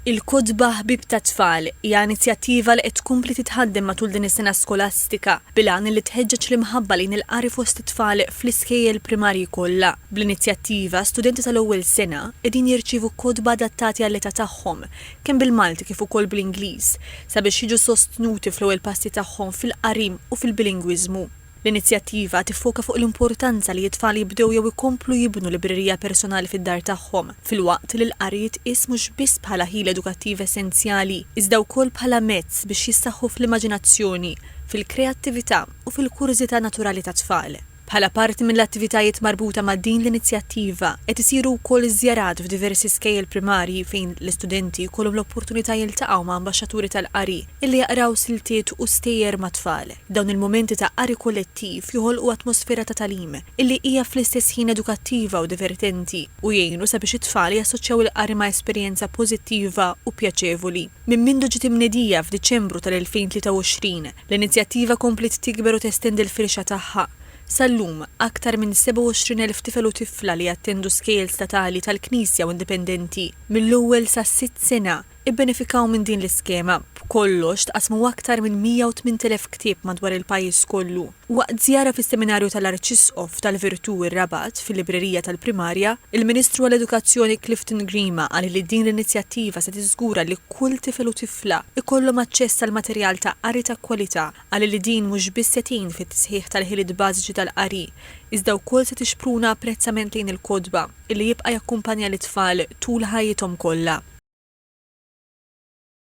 Il-Kotba Ħbieb tat-Tfal hija inizjattiva li qed tkompli titħaddem matul din is-sena skolastika bil-għan li tħeġġeġ l-imħabba lejn il-qari fost it-tfal fl-iskejjel primarji kollha. Bl-inizjattiva, studenti tal-ewwel sena qegħdin jirċievu kotba adattati għall-età tagħhom, kemm bil-Malti kif ukoll bl-Ingliż, sabiex jiġu sostnuti fl-ewwel passi tagħhom fil-qari u fil-bilingwiżmu. L-inizjattiva tiffoka fuq l-importanza li t-tfal jibdew jew ikomplu jibnu librerija personali fid-dar tagħhom, filwaqt li l-qari jitqies mhux biss bħala ħila edukattiv essenzjali, iżda wkoll bħala mezz biex jissaħħu fl-immaġinazzjoni, fil-kreattività u fil-kurżità naturali tat-tfal. Bħala parti mill-attivitajiet marbuta ma' din l-inizjattiva, qed isiru wkoll żjarat f'diversi skejjel primarji fejn l-istudenti jkollhom l-opportunità jiltaqgħu ma' ambaxxaturi tal-qari, Illi jaqraw siltiet u stejjer mat-tfal. Dawn il-mumenti ta' qari kollettiv joħolqu atmosfera ta' tagħlim, illi hija fl-istess ħin edukattiva u divertenti, u jgħinu sabiex it-tfal jassoċjaw il-qari ma' esperjenza pożittiva u pjaċevoli. Minn mindu ġiet imnedija f'Diċembru tal-2023, l-inizjattiva kompliet tikber u testendi l-firxa tagħha. Sal-lum, aktar minn 27,000 tifel u tifla li jattendu skejjel statali tal-Knisja u indipendenti mill-ewwel sas-sitt sena, Ibbenefikaw minn din l-iskema, b'kollox tqassmu aktar minn 108,000 ktieb madwar il-pajjiż kollu. Waqt żjara fis-Seminarju tal-Arċisqof tal-Virtù r-Rabat, fil-Librerija tal-Primarja, il-Ministru għall-Edukazzjoni Clifton Grima qal li din l-inizjattiva se tiżgura li kull tifel u tifla jkollhom aċċess għal materjal ta' qari ta' kwalità. Qal li din mhux biss se tgħin fit-tisħiħ tal-ħiliet bażiċi tal-qari, iżda wkoll se tixpruna apprezzament lejn il-kotba. li jibqa' jakkumpanja lit-tfal tul ħajjithom kollha.